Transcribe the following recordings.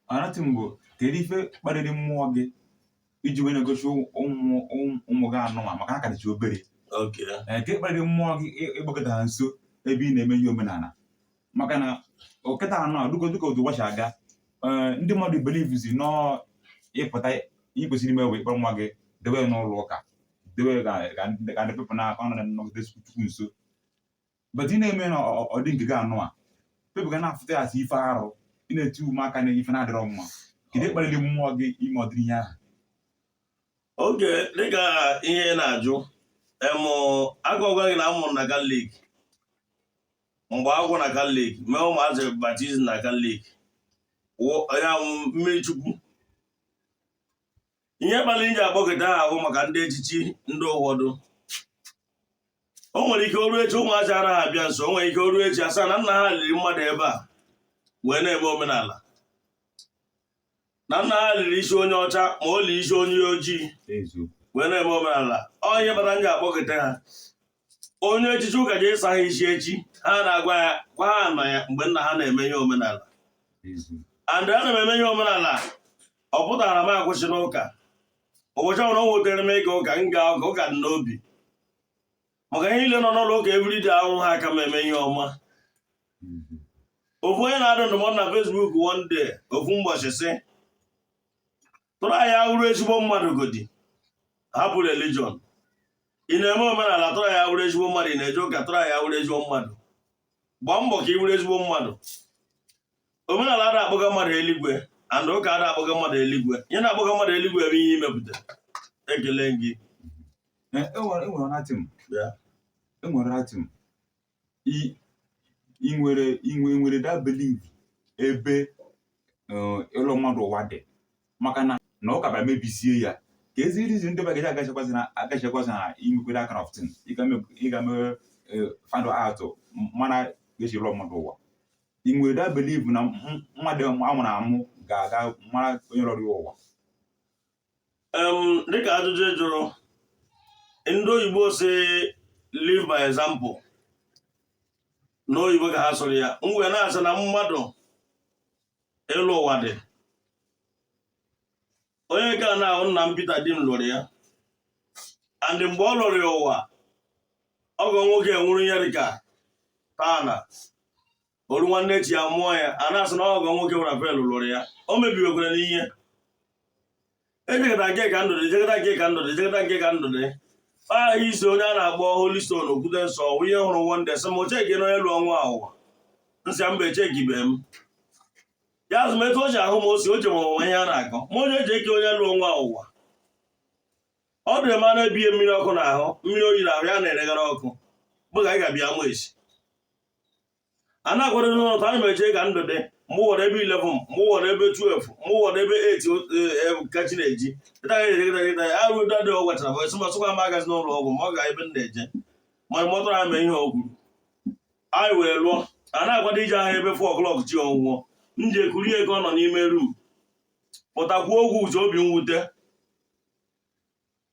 another thing bụ kedu ife kpaliri mmụọ gị iji wee na-egosi ụmụ ụmụ- ụmụ gị anụwa maka ha ka dịcha obere Okay. Ee, nke kpaliri mmụọ gị ị- ịgbakọta ha nso ebe ị na-eme ihe omenala maka na oge ta anụwa dịka dịka otu obodo si aga ee, ndị mmadụ believezi na ọ ị pụta ihe i kwesịrị ime wee kpọrọ nwa gị dewe ya n'ụlọ ụka dewe ya ka ka ndị ka ndị people na-akọ na nọgide Chukwu nso but ị na-eme na ọ dị nke gị anụwa people ga na-afụta ya as ife arụ ị na-eti ụmụaka n'ife na-adịrọ mma kedu ife kpalili mmụọ gị ime ụdịrị ihe ahụ okay dịka ihe ị na-ajụ em aga m agwa gị na amụrụ m na Catholic m gbaa akwụkwọ na Catholic mee ụmụazị baptism na Catholic ọ ya wụ mmiri Chukwu ihe kpalị m ji akpọkịta ha bụ maka ụdị echiche ndị ụfọdụ o nwere ike oru echi ụmụazị anaghị abịa nso o nwere ike oru echi asaa na nna ha liri mmadụ ebe a wee na-eme omenala na nna ha liri isi onye ọcha ma o li isi onye ojii wee na-eme omenala ọ ihe kpatara m ji akpọkịta ha onye echichi ụka ji ịsa ha isi echi ha na-agwa yakwa ha nọ ya mgbe nna ha na-eme ihe omenala and ana m eme ihe omenala ọ pụtara na m akwụsị n'ụka ụbọchị ọbụla ọ nwetara m ịga ụka m gaa ụka ụka dị n'obi maka ha niile nọ n'ụlọ ụka everyday ahụ ha aka m eme ihe ọma ofu onye na-adụ ndụmọdụ na Facebook one day ofu ụbọchị sị try wụrụ ezigbo mmadụ godi hapụ religion ị na-eme omenala try wụrụ ezigbo mmadụ ị na-eje ụka try wụrụ ezigbo mmadụ gbaa mbọ ka ị wụrụ ezigbo mmadụ omenala ada akpọga mmadụ eluigwe and ụka ada akpọga mmadụ eluigwe ihe na-akpọga mmadụ eluigwe bụ ihe i mepụta ekele gị enwere another thing i nwere inwe nwere that belief ebe eh, ịlọ mmadụ ụwa dị maka na na ụka bịa mebisie ya ka ezi reason ndị bagaji agachakwazi na agachakwazi na imekwere kind of thing ịga mee eh, find out mara ka e si lọọ mmadụ ụwa ị nwere that belief na mmadụ amụrụ amụ ga-aga mara onye lọrọ ụwa dịka ajụjụ ị jụrụ ndị oyibo sị live by example n'oyibo ka ha sụrụ ya m wee na-asị na mmadụ ịlọ ụwa dị onye nke a ị na-ahụ nna m Peter Dim lọrọ ya and mgbe ọ lọrọ ya ụwa ọgọ nwoke nwụrụ ya dịka tana o ruo nwanne echi ya mụọ ya a na-asị na ọgọ nwoke Raphael lụrụ ya o mebiwekwara n'ihe ejegata nke Kandudi ejegata nke Kandudi ejegata nke Kandudi aha isi onye a na-akpọ Holy Stone okwute nsọ ihe hụrụ one day sị m cheki na onye lụọ nwa a ụwa m sị mba echekibe m ya asị m etu o ji ahụ m osi o ji m ọnwụnwa ihe a na-akọ ma onye eji eke onye lụọ nwa a ụwa ọ dị m na-ebighị mmiri ọkụ n'ahụ mmiri oyi n'ahụ ya na-eregara ọkụ bụ ka anyị ga-abịa mụ esi a na-akwado n'ụlọ ka anyị mee jee Kandudi mgbe ọ wụrụ ebe 11 mgbe ọ wụrụ ebe 12 mgbe ọ wụrụ ebe 8 ka chi na-eji arụ udo adịghị ọ gwachara bụ e sị m asịkwa m agazi n'ụlọ ọgwụ ma ọ ga ebe m na-eje ma mọtara ha mee ihe ọ kwuru anyị wee lụọ a na-akwado ije ahịa ebe 4 o'clock chi ọbụbọ m ji kuru ya ka ọ nọ n'ime rum pụtakwuo ogwu uche obi mwute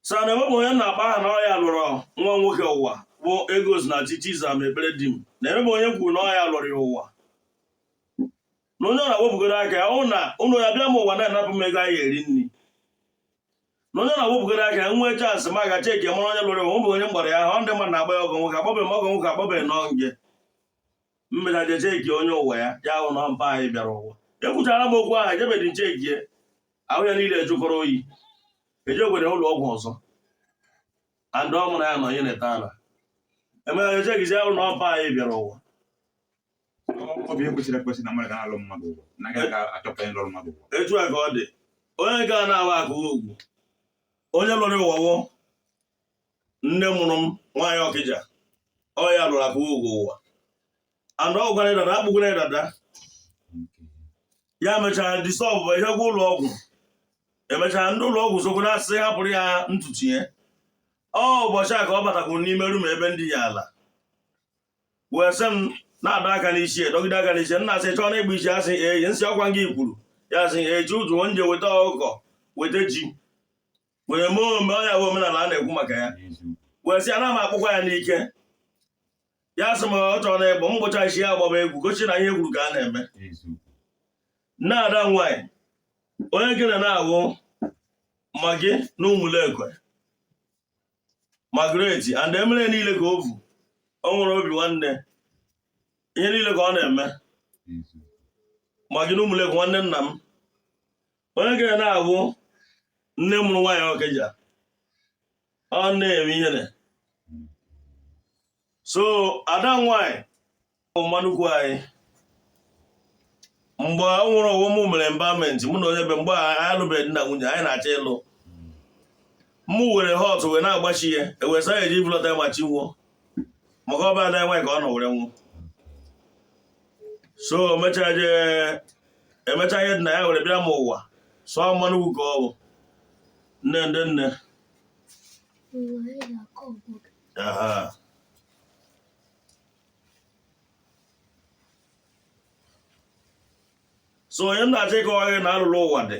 sa na enwebụ onye m na-akpọ aha na ọ ya lụrụ nwa nwoke ụwa bụ egos na chi chizam ekpere di m na enwebụ onye m kwuru na ọ ya lụrụ ya ụwa na onye ọ na-awepụgoro aka ya ọnwụ na ụlọ ya bịa m ụwa na-anapụ m ego anyị eri nri na onye na-awepụgoro aka ya nwee chansị m ga cheki mara onye lụrụ ya ụwa, enwebụ onye m kpọrọ ya aha ọ ndị mmadụ na-akpọ ya ọgọ nwoke akpọbeghị m ọgọ nwoke akpọbeghị nọ nge m mechaa je cheki onye ụwa ya ya ahụ na mpa anyị bịara ụwa ekwuchara m okwu ahụ ejebedi m chekie ahụ ya niile ejụkọrọ oyi e jekwara ụlọ ọgwụ ọzọ and ọ mụrụ ya nọ ihe na-ete ala emechaa e chekizie ahụ na ọ mpa anyị bịara ụwa ọ bụ ihe kwesịrị ekwesị na mmadụ ga na-alụ mmadụ ụwa na agaghị ka achọpụta onye lụrụ mmadụ ụwa etu a ka ọ dị onye nke a na-awụ akụ ugwu onye lụrụ ụwa wụ nne mụrụ m nwaanyị ọkịja ọ ya lụrụ akụ ugwu ụwa and ọ gbara dada a kpụkwara ya dada ya mechara dissolve e jekwaa ụlọ ọgwụ emechara ndị ụlọ ọgwụ sokwa na-asị hapụrụ ya ntutu ya ọ ụbọchị a ka ọ batakwuru n'ime rum ebe m dina ala wee sị m na-adọ aka n'isi dọgide aka n'isi m na-asị chọọ na ịgba isi asị eyi m sị ọkwa gị kwuru ya sị eji ụtụ m je weta ọkụkọ weta ji were mee ome ọ ya bụ omenala a na-ekwu maka ya wee sị ana m akpụkwa ya n'ike ya sị m ọ chọrọ na ịkpụ m kpụcha isi ya agbaba egwu gosi na ihe e kwuru ka a na-eme nne ada nwanyị onye nke a na-awụ Maggie na ụmụlekwe Margaret and emere niile ka o vu ọ nwere obi nwanne ihe niile ka ọ na-eme Maggie na ụmụlekwe nwanne nna m onye nke a na-abụ nne mụrụ nwaanyị ọkịja ọ na-eme ihere so ada nwaanyị mma nnukwu anyị mgbe ọ nwụrụ ọ wụ m mere embalmment mụ na onye be mgbe anyị alụbeghị na nwunye anyị na-achọ ịlụ mụ were hot wee na-agbachi ya ewesa ya eji bulọta ma chi bọọ maka ọ be ada nwaanyị ka ọ nọ were nwụọ so emechaa jee emechaa ihe dị na ya were bịa m ụwa so mma nnukwu ka ọ bụ nne ndị nne aha so onye m na-achọ ịkọwa gị na ọlụlọ ụwa dị